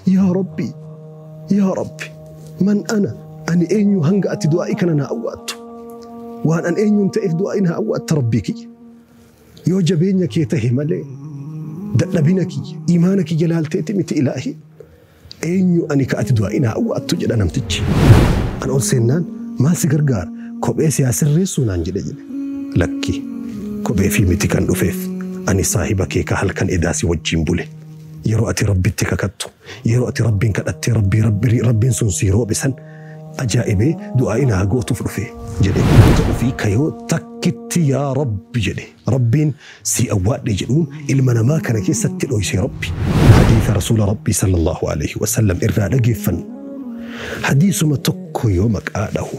Yaa Rabbi! Yaa Rabbi! Man ana? Ani eenyu hanga ati du'aa'ii kana naa awwaattu? Waan an eenyuun ta'eef du'aa'ii naa awwaatta Rabbii kiyya? Yoo jabeenya kee tahe malee dadhabina kiyya, iimaana kiyya laalteeti miti Ilaahii? Eenyu ani ka ati du'aa'ii naa awwaattu? jedha namtichi. An ol seennaan maal si gargaara? Kophee si haa sirreessuu naan jedhe jedhe. Lakki! Kopheefii miti kan dhufeef, ani saahiba kee ka halkan edaa si wajjiin bule. Yeroo ati Rabbitti kakattu, yeroo ati Rabbiin kadhattee Rabbii Rabbi Rabbiin sun sii roobe san ajaa'ibee du'aa'ii naa gootuuf dhufe jedhe. Goota ofii kayoo takkitti yaa Rabbi jedhe Rabbiin sii awwaadhe jedhuun ilma namaa kana keessatti dhooyse Rabbi. Hadiisa Rasuula Rabbii sallallaahu aleeyhi wasallam irraa dhageeffannu. Hadiisuma tokko yoo maqaa dhahu.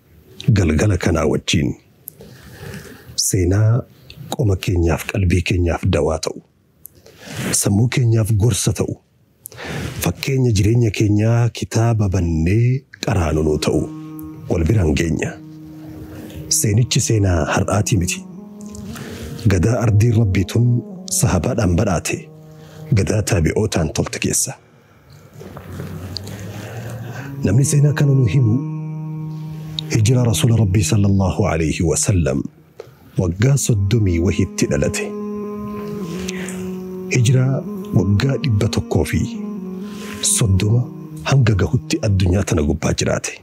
galgala kanaa wajjiin seenaa qoma keenyaaf qalbii keenyaaf dawaa ta'u, sammuu keenyaaf gorsa ta'u, fakkeenya jireenya keenyaa kitaaba bannee qaraanu nuu ta'u wal biraan geenya. Seenichi seenaa har'aatii miti. Gadaa ardiin Rabbii tun sahabaadhaan badhaate, gadaa taabi'ootaan tolte keessa. Namni seenaa kana nu himu hijiraa Rasuula Rabbii sallallahu alayhi wa sallam waggaa soddomii wahitti dhalate. Hijiraa waggaa dhibba tokkoo fi soddoma hanga gahutti addunyaa tana gubbaa jiraate.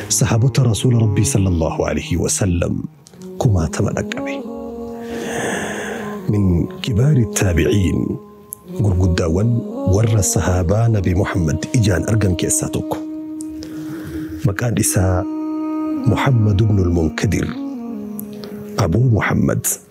Sahaabota Rasuula Rabbii sallallahu alaihi wasallam kumaatama dhaqqabe. Min kibaari taabiciin gurguddaawwan warra sahaabaa Nabi Muhammad ijaan argan keessaa tokko. Maqaan isaa Muhammad ibn al-Munkadir Abuu Muhammad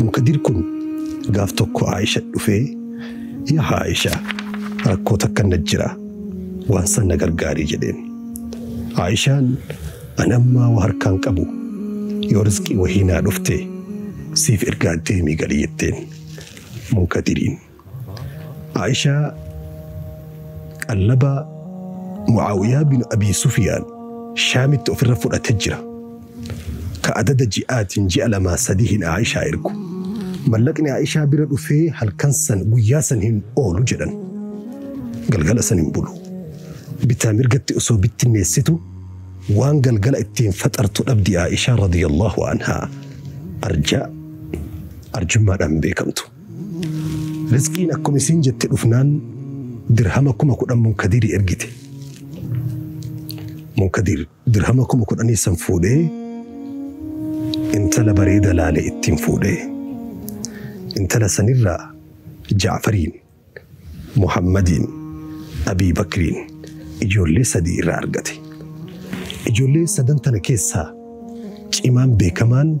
Munkadir kun gaaf tokko Aisha dhufee yaa Aisha rakkoo takka na jira waan san na gargaarii jedheen. Aishaan an ammaa waa harkaan qabu yoo rizqii wahii naa dhufte siif ergaa deemii gali jetteen. Munkadiriin. Aa'ishaa qallaba Mu'aawiyaa bin Abii Sufiyaan Shaamitti ofirra fudhate jira. Ka adada ji'aatiin ji'a lamaa sadihiin Aa'ishaa ergu. Mallaqni Aa'ishaa bira dhufee halkan san guyyaa san hin oolu jedhan. Galgala san hin bulu. Bitaa mirgatti osoo bittinneessitu waan galgala ittiin faxartu dhabdi Aa'ishaa radiyallahu anhaa. Arjaa arjummaadhaan beekamtu. Rizqiin akkuma isiin jette dhufnaan dirhama kuma kudhan munkadirii ergite. Munkadir dirhama kuma kudhanii san fuudhee intala bareeda laale ittiin fuudhee. Intala sanirraa Jaafariin, Muhammadiin, Abii Bakriin ijoollee sadii irraa argate. Ijoollee sadan tana keessaa cimaan beekamaan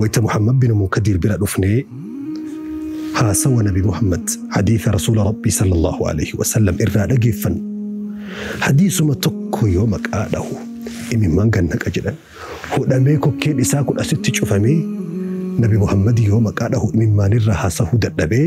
wayta Muhammad binu Munkadiir bira dhufnee haasawa Nabi Muhammad hadiisa Rasuula Rabbii sallallahu alaihi wasallam irraa dhageeffannu hadiisuma tokko yoo maqaa dhahu imimmaan gad naqa jedhan hudhamee kokkeen isaa kun asitti cufamee Nabi Muhammad yoo maqaa dhahu imimmaanirraa haasahuu dadhabee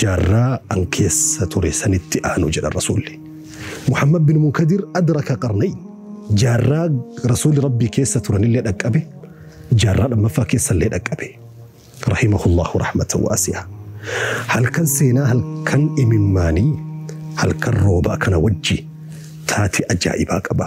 Jaarraa an keessa ture sanitti aanu jedhan Rasuulli. Muhammad bin Munkadir adraka qarnayn, jaarraa Rasuulli Rabbii keessa turanillee dhaqqabe, jaarraa lammaffaa keessallee dhaqqabe. Rahimahullahu rahmatan waasi'a. Halkan seenaa halkan imimmaanii halkan roobaa kana wajji taate ajaa'ibaa qaba.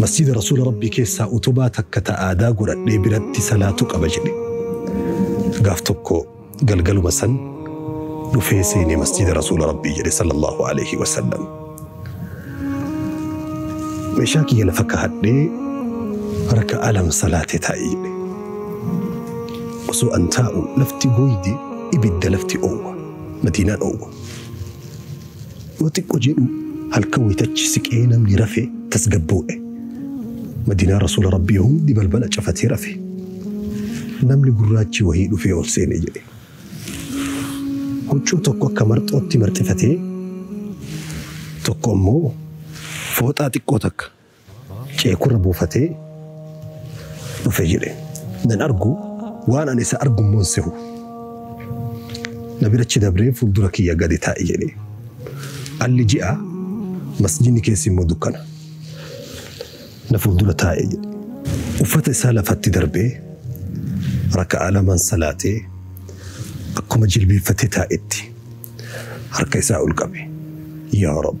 Masjiida Rasuula Rabbii keessaa utubaa takka ta aadaa godhadhee biratti salaatuu qaba jedhe. Gaaf tokko galgaluma san dhufee seenee masjiida Rasuula Rabbii jedhe sallallahu alaihi wasallam. Meeshaa kiyya lafa kaa'adhee harka alam salaatee taa'e jedhe. Osoo an taa'u lafti gooyde ibidda lafti oowwa. Madiinaan oowwa. Yoo xiqqo jedhuu halkan waytachi siqee namni rafe tasgabboo'e. Madiinaa Rasuula Rabbii hundi balbala cafatee rafe. Namni gurraachi wahii dhufee ol seene jedhe. Huccuu tokko akka marxootti marxifatee tokko ammoo fooxaa xiqqoo takka ceekurra buufatee dhufe jedhe. Nan argu waan ani isa argu immoo hin sehu. Na bira achi dabree fuuldura kiyya gadi taa'e jedhe. Alli ji'a masjidni keessi immoo dukkana. Na fuuldura taa'e jedhe. Uffata isaa lafatti darbee raka'aa lamaan salaatee akkuma jilbiiffatee taa'etti harka isaa ol qabe. Yaa Rabb!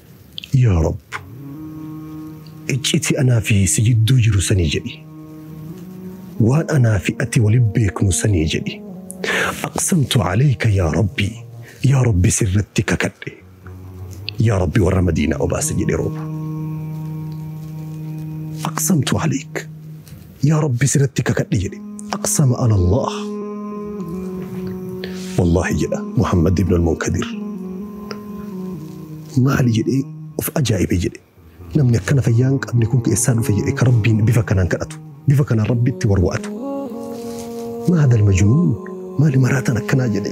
Yaa Rabb! Icciti anaa fi si jidduu jiru sanii jedhi. Waan anaa fi ati wali beeknu sanii jedhi. Aqsamtu Aleyka yaa Rabbi! Yaa Rabbi sirratti kakadhe! Yaa Rabbi warra Madiinaa obaasi jedhe rooba. Aqsamtu Aleyk! yaa rabbi siratti kakadhe jedhe aqsama ala allah wallaahi jedha muhammad ibn almunkadir maali jedhee of ajaa'ibe jedhe namni akkana fayyaa hin qabne kun keessaa dhufe jedhe ka rabbiin bifa kanaan kadhatu bifa kanaan rabbitti warwa'atu maadal majnuun maali maraataan akkanaa jedhe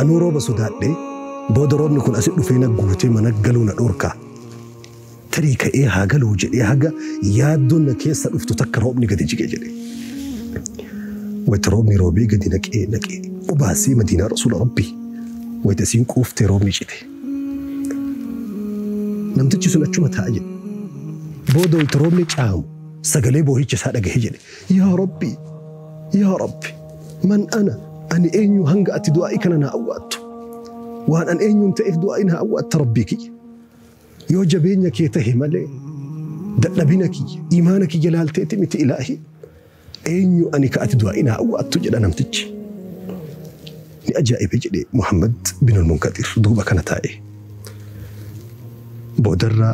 Anuu rooba sodaadhee booda roobni kun asi dhufee na guutee mana galuu na dhorka. Tarii ka'ee haa galuu jedhee haga yaaddoon na keessa dhuftu takka roobni gadi jige jedhe. Wayita roobni roobee gadi naqee naqee obaasee madiinaa rasuula rabbii wayita isiin quuftee roobni cite. Namtichi sun achuma taa'a jedhe. Booda wayita roobni caamu sagalee boohicha isaa dhagahe jedhe. Yaa Rabbi! Yaa Rabbi! Man ana? Ani eenyu hanga ati du'aa'ii kana naa awwaattu? Waan an eenyuun ta'eef du'aa'ii naa awwaatta Rabbii kiyya? Yoo jabeenya kee tahe malee dadhabina kiyya, imaana kiyya laalteeti miti Ilaahii? Eenyu ani ka ati du'aa'ii naa awwaattu? jedha namtichi. Ni ajaa'ibe jedhe Muhammad bin al-Munkaxir duuba kana taa'e. Boodarra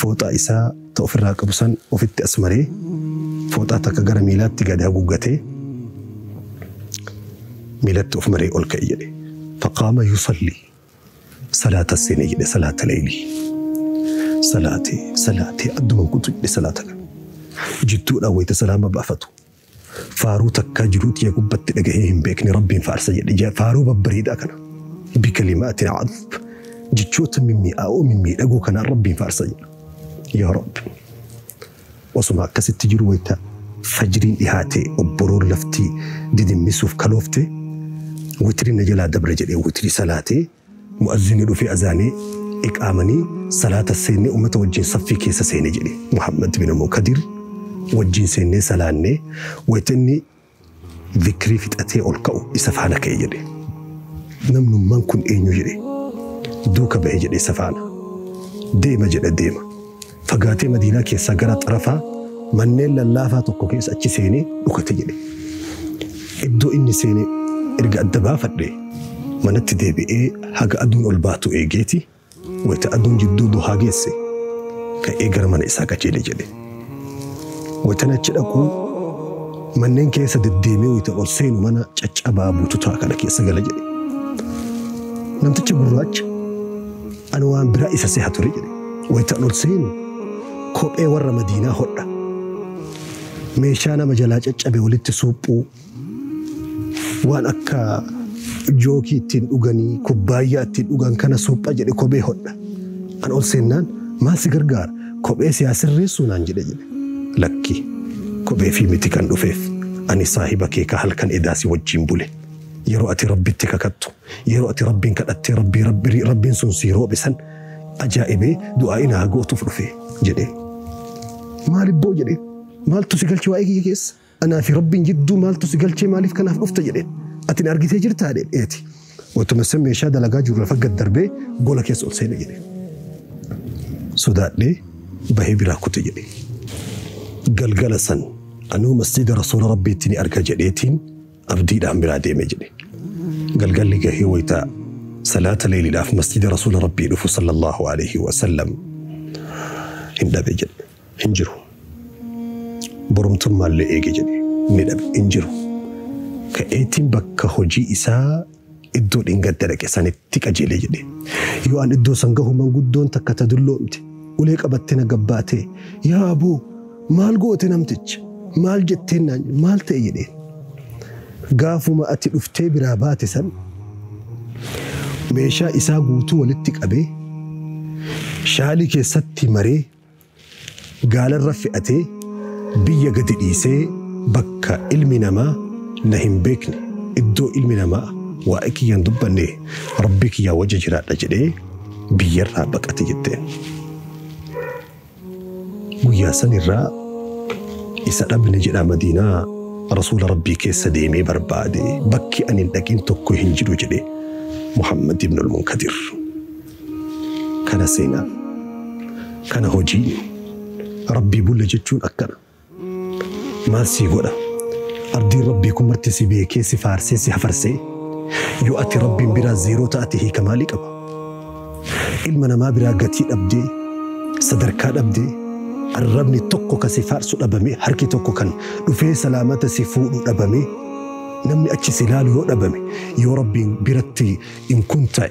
fooxaa isaa ta ofirraa qabu san ofitti as maree fooxaa takka gara miilaatti gad haguuggatee miilatti of maree ol ka'e jedhe. Faqaama yusalli salaata seene jedhe salaata leeyli. Salaate salaate adduma guutu jedhe salaata kana. Jidduudhaan wayita salaama baafatu Faaruu takkaa jiruutti ya gubbatti dhagahee hin beekne rabbiin faarsa jedhe ja faaruu babbareedaa kana bikalimaatin cadb jechoota mimmi'aa'oo mimmiidhagoo kanaan rabbiin faarsa jedha yaa rabbi osuma akkasitti jiru wayta fajriin dhihaate obboroon laftii didimmisuuf kaloofte witri na jalaa dabre jedhee witri salaatee Mu'azzinni dhufee azaanee, iqaamanii, salaata seennee ummata wajjiin saffii keessa seene jedhe. Muhammad bin Mukadir wajjiin seennee salaanne, wayta inni zikrii fixatee ol ka'u isa faana ka'e jedhe. Namnummaan kun eenyu jedhe. Duuka bahe jedhe isa faana. Deema jedha deema. Fagaatee Madiinaa keessaa gara xarafa manneen lallaafaa tokko keessa achi seenee dhukate jedhe. Iddoo inni seene erga adda baafadhe manatti deebi'ee haga aduun ol baatu eegeeti wayita aduun jidduu duhaa geesse ka'ee gara mana isaa qajeele jedhe. Wayitan achi dhaqu manneen keessa deddeemee wayita ol seenu mana caccabaa bututaa kana keessa gala jedhe. Namticha gurraacha Ani waan biraa isa seha ture jedhe. Wayta an ol seenu kophee warra Madiinaa hodha. Meeshaa nama jalaa caccabe walitti suuphuu, waan akka jookii ittiin dhuganii, kubbaayyaa ittiin dhugan kana suupha jedhe kophee hodha. An ol seennaan maal si gargaara? Kophee si haa sirreessuu naan jedhe jedhe. Lakki kophee fi miti kan dhufeef ani saahiba kee ka halkan edaa si wajjiin bule. Yeroo ati Rabbitti kakattu Yeroo ati Rabbiin kadhattee Rabbii Rabbii Rabbiin sun sii roobe san ajaa'ibee du'aa inaa gootuuf dhufe jedhe. Maal ibboo jedhe maaltu si galche waa'ee kiyya keessa anaa fi Rabbiin jidduu maaltu si galchee maaliif kanaaf dhufta jedhe ati na argitee jirtaa jedhe eeti. Watuma san meeshaa dalagaa jiru lafa gad darbee gola keessa ol seene jedhe. Sodaadhee bahee biraa kute jedhe. Galgala san anuu masjiida rasuula Rabbiitti ni arga jedheetiin abdiidhaan biraa deeme jedhe. Galgalli gahee wayta salaata leeyliidhaaf masjida rasuula rabbii dhufu sallallahu alayhi wa sallam hin dhabe jedhe. Hin jiru. Borumtummaallee eege jedhe. Ni dhabe. Hin jiru. Ka'eetiin bakka hojii isaa iddoo dhingadda dhaqe sanitti qajeele jedhe. Yoo an iddoo san gahu manguddoon takka ta dulloomte ulee qabattee na gabbaatee yaa aboo maal goote namticha maal jetteen naan maal ta'e jedheen. Gaafuma ati dhuftee biraa baate san meeshaa isaa guutuu walitti qabee shaalii keessatti maree Gaalarra fe'atee biyya gadi dhiisee bakka ilmi namaa na hin beekne, iddoo ilmi namaa waa'ee kiyya hin dubbanne Rabbii kiyyaa wajji jiraadha jedhee biyyarraa baqate jetteen. Guyyaa sanirraa isa dhabne jedha Madiinaa Rasuula Rabbii keessa deemee barbaade bakki ani hin dhaqin tokko hin jiru jedhe Muhammad ibn al-Munkadir. Kana seenaan. Kana hojiin. Rabbii bulla jechuun akkana. Maal sii godha? Abdiin Rabbii kun marti si beekee si faarsee si hafarsee yoo ati Rabbiin biraa zeeroo ta'ate hiika maalii qaba? Ilma namaa biraa gatii dhabdee sadarkaa dhabdee arrabni tokko kan si faarsu dhabamee harki tokko kan dhufee salaamata si fuudhu dhabamee namni achi si laalu yoo dhabame yoo Rabbiin biratti in kun ta'e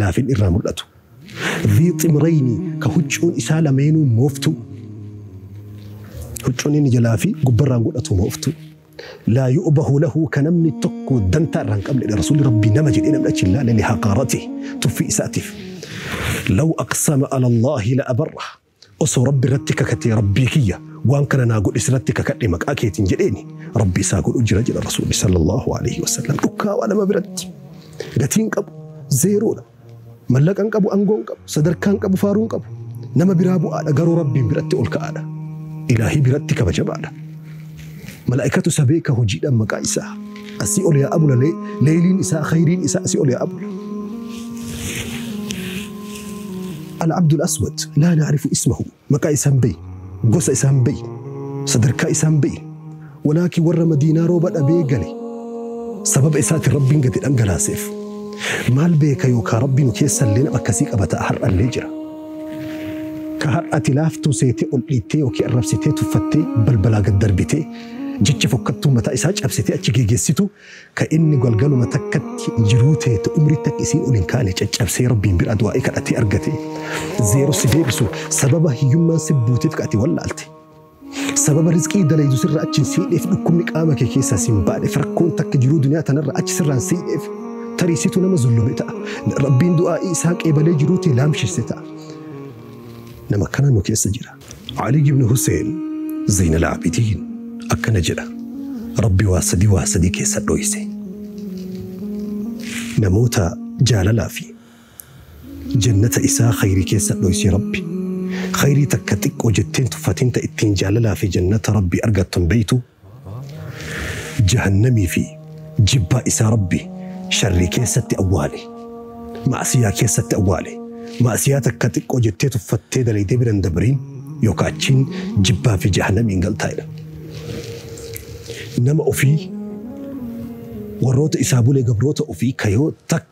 laafin irraa mul'atu. Dhii ximrayni ka huccuun isaa lameenuu mooftuu, huccuun inni jalaa fi gubbarraan godhatu mooftuu. Laa yu'bahu lahu ka namni tokko dantaa irraa hin qabnedha. Rasuulli Rabbii nama jedhee namni achi hin laale lihaqaarati tuffii isaatiif. Law aqsama ala Allaahi la abarra Osoo Rabbi irratti kakatee Rabbii kiyya waan kana naa godhi sirratti kakadhe maqaa keetiin jedheeni Rabbi isaa godhu jira jedha Rasuulli sallallahu alaihi wasallam dhukkaawaa nama biratti gatiin qabu zeeroodha mallaqa hin qabu angoo hin qabu sadarkaa hin qabu faaruu hin qabu nama biraa bu'aadha garuu Rabbiin biratti ol ka'aadha ilaahii biratti kabajamaadha Malaa'ikatu isa beeka hojiidhaan maqaa isaa. Asii ol yaa abula lee, leeyliin isaa, khayriin isaa asii ol yaa abula. Al-Abdul Aswad laa na'rifu ismahu maqaa isaa hin beeyne, gosa isaa hin beeyne, sadarkaa isaa hin beeyne. Walaakin warra Madiinaa rooba dhabee gale sababa isaatiin Rabbiin gadi dhangalaaseef. Maal beeka yookaa Rabbi nu keessa illee nama akkasii qaba ta'a har'a illee jira. Ka har'a ati laaftuu seetee ol dhiittee ykn arrabsitee tuffattee balbalaa gad darbitee jecha fokkattuu mataa isaa cabsitee achi geegessitu ka inni galgaluma takkatti jiruu tee ta umrii takka isiin ol hin kaane caccabsee Rabbiin biraa du'aa'ii kadhatee argate zeero si deebisu sababa hiyyummaan si buuteef ka ati wallaalte. Sababa rizqii dalaydu sirra achi hin siidheef dhukkubni qaama kee keessaa sin baaneef rakkoon takka jiruu duniyaa tanarra achi sirraa hin siidheef tarii situ nama zullume ta'a rabbiin du'aa'ii isaa qeebalee jiruu tee laamshesse ta'a nama akkanaa nu keessa jira Alii ibn Huseen Zeynal Aabidiin akkana jedha rabbi waa sadii waa sadii keessa dhoyse namoota jaalalaa fi Jannata isaa khayrii keessa dhoysii Rabbi. Khayrii takka xiqqo jettee hin tuffatin ta ittiin jaalalaa fi jannata Rabbii argattu hin beytuu? Jahannamii fi jibbaa isaa Rabbi sharrii keessatti awwaale. Ma'asiyaa keessatti awwaale. Ma'asiyaa takka xiqqo jettee tuffattee dalaydee bira hin dabriin yookaa achiin jibbaa fi jahannamiin galtaa jedhan. Nama ofii warroota isaa bule gabroota ofii ka yoo takka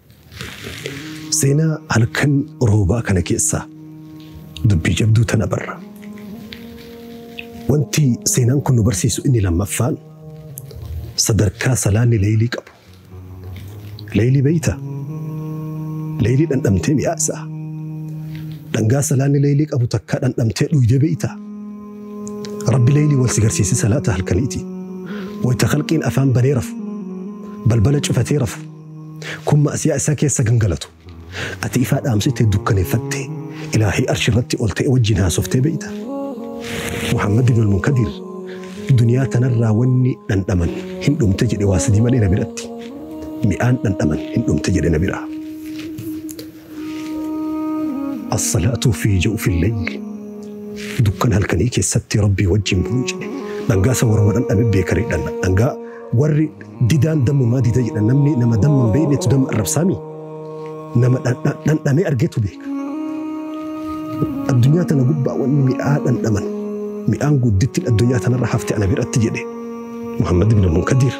Seenaa halkan roobaa kana keessaa dubbii jabduu tana barra. Wanti seenaan kun nu barsiisu inni lammaffaan sadarkaa salaanni leeylii qabu. Leeylii beeyta? Leeylii dhandhamtee mi'aa isaa. Dhangaa salaanni leeylii qabu takkaa dhandhamtee dhuydee beeyta? Rabbi leeylii wal si garsiise salaata halkaniiti. Wayta khalqiin afaan banee rafu, balbala cufatee rafu, Kun ma'asiyaa isaa keessa gangalatu. Ati ifaa dhaamsitee dukkaneeffattee Ilaahay Arshi irratti ol ta'e wajjiin haasoftee beeyta? Muhammad ibn al-Munkadiir duniyaa tanarraa wanni dhandhaman hin dhumte jedhe waa sadii malee na biratti. Mi'aan dhandhaman hin dhumte jedhe na biraa. Assalaatuu fi jawfil layli. Dukkana halkanii keessatti Rabbii wajjin buluu jedhe. Dhangaa isa warra dhandhame beekan jedhan. Dhangaa warri didaan dammumaa dida jedhan namni nama damma hin beeknetu damma arrabsaami. Nama dhandha- dhandhamee argetu beeka. Addunyaa tana gubbaa wanni mi'aa dhandhaman. Mi'aan guddittiin addunyaa tanarra hafte ana biratti jedhe. Muhammad ibn Munkadir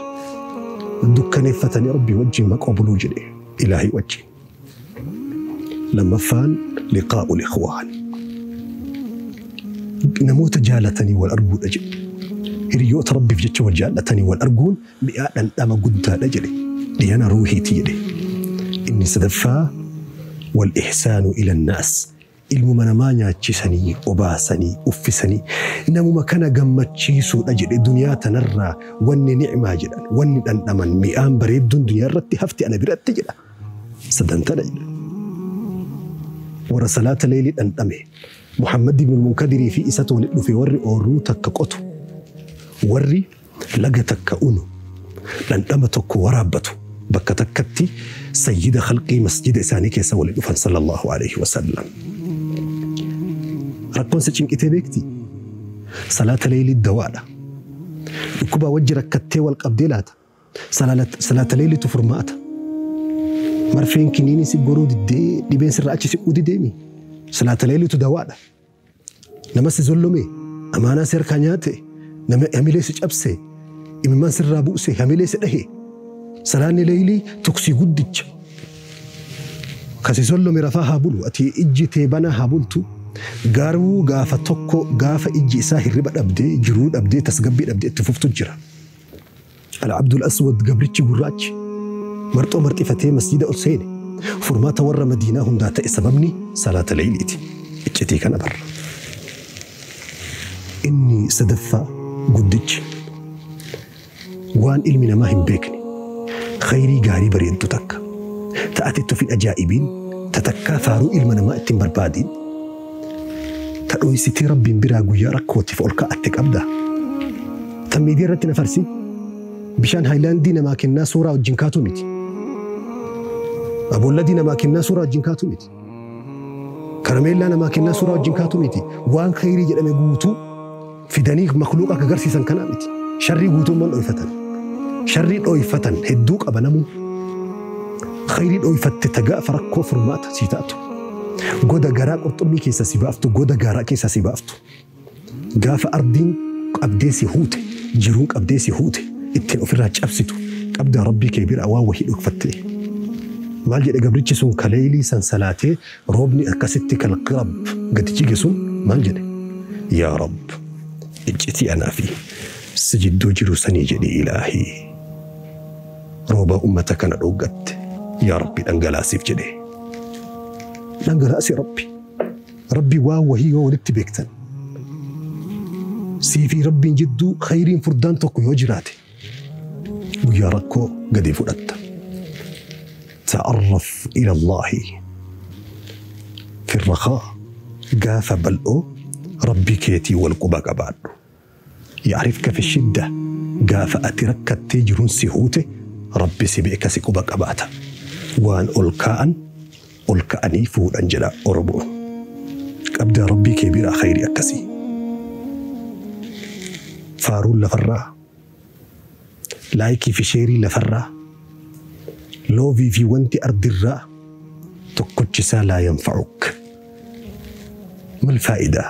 dukkaneeffatanii Rabbii wajjin maqoo buluu jedhe. Ilaahii wajjin. Lammaffaan liqaa'ul ikhwaan. Namoota jaalatanii wal arguudha jedhe. Hiriyoota Rabbiif jecha wal jaallatanii wal arguun mi'aa dhandhama guddaadha jedhe. Dhiyana ruuhiiti jedhe. Inni sadaffaa wal ihsaanu ilan naas. Ilmuma namaa nyaachisanii, obaasanii, uffisanii namuma kana gammachiisuudha jedhe duniyaa tanarraa wanni ni'maa jedhan, wanni dhandhaman, mi'aan bareedduun duniyaarratti hafti ana biratti jedha. Sadan tana jedha. Warra salaata leeylii dhandhame, Muhammad ibn al-Munkadirii fi isatu walitti dhufe warri oorruu takka qotu, warri Laga takka unu, dhandhama tokko waraabbatu, bakka takkatti sayyida khalqii masjida isaanii keessa wali dhufan sallallahu aleyhi wa sallam. Rakkoon si cinqitee beektii? Salaata leeylii dawaadha. Dhukkubaa wajji rakkattee wal qabdee laata? Salaalat- Salaata leeyliitu furmaata. Marfeen kiniinii si goruu diddee dhibeen sirra achi siquu dideemi. Salaata leeyliitu dawaadha. Nama si zollome, amaanaa si harkaa nyaate, nama hamilee si cabse, imimmaan sirraa buuse, hamilee si dhahe. Salaanni leeylii tuksii guddicha. Ka si zollome rafaa haa bulu, ati ijji tee banaa haa bultu. Garuu gaafa tokko gaafa ijji isaa hirriba dhabdee, jiruu dhabdee, tasgabbii dhabdee itti fuftu jira. Al-Abdul Aswad gabrichi gurraachi marxoo marxifatee masjiida ol seene. Furmaata warra Madiinaa hundaa ta'e sababni salaata leeyliiti. Iccitii kana barra. Inni sadaffaa guddichi waan ilmi namaa hin beekne khayrii gaarii bareeddu takka ta'atetti of hin ajaa'ibiin ta takkaa faaruu ilma namaa ittiin barbaadiin Ta dhoysitii Rabbiin biraa guyyaa rakkootiif ol ka'atte qabdaa? Tan miidiyaa irratti na farsi bishaan haayilaandii namaa kennaa suuraa wajjin kaatu miti. Aboolladii namaa kennaa suuraa wajjin kaatu miti. Karameellaa namaa kennaa suuraa wajjin kaatu miti. Waan khayrii jedhame guutuu fidanii makluuqa akka garsiisan kana miti. Sharrii guutumman dhoyfatan. Sharrii dhoyfatan hedduu qaba namuu. Khayrii dhoyfatte ta gaafa rakkoo furmaata sii taatu. Goda garaa qurxummii keessa si baaftu, goda gaaraa keessa si baaftu. Gaafa ardiin qabdee si huute, jiruun qabdee si huute, ittiin ofirraa cabsitu, qabdaa Rabbii kee biraa waan wahii dhokfattee. Maal jedhe gabrichi sun ka leeylii san salaatee Roobni akkasitti kan Rabb gadi jige sun maal jedhe? Yaa Rabb! Iccitii anaa fi si jidduu jiru sanii jedhi Ilaahii! Roobaa ummata kana dhooggatte yaa Rabbi dhangalaasiif jedhe. Dhangalaasi Rabbi! Rabbi waan wahii yoo walitti beektan sii fi Rabbiin jidduu khayriin furdaan tokko yoo jiraate guyyaa rakkoo gadi fudhatta. Ta'arraf ilallahi firrakaa gaafa bal'oo rabbi keetii wal quba qabaadhu. Ya'rifka fi shidda gaafa ati rakkattee jiruun si huute rabbi si beeka si quba qabaata. Waan ol kaa'an ol ka'anii fuudhan jedha Oromoon. Qabdaa Rabbii kee biraa khayrii akkasii. Faaruun lafarraa, laayikii fi sheerii lafarraa, loovii fi wanti ardirraa tokkochi isaa laa yanfa'uk. Mal faayidaa?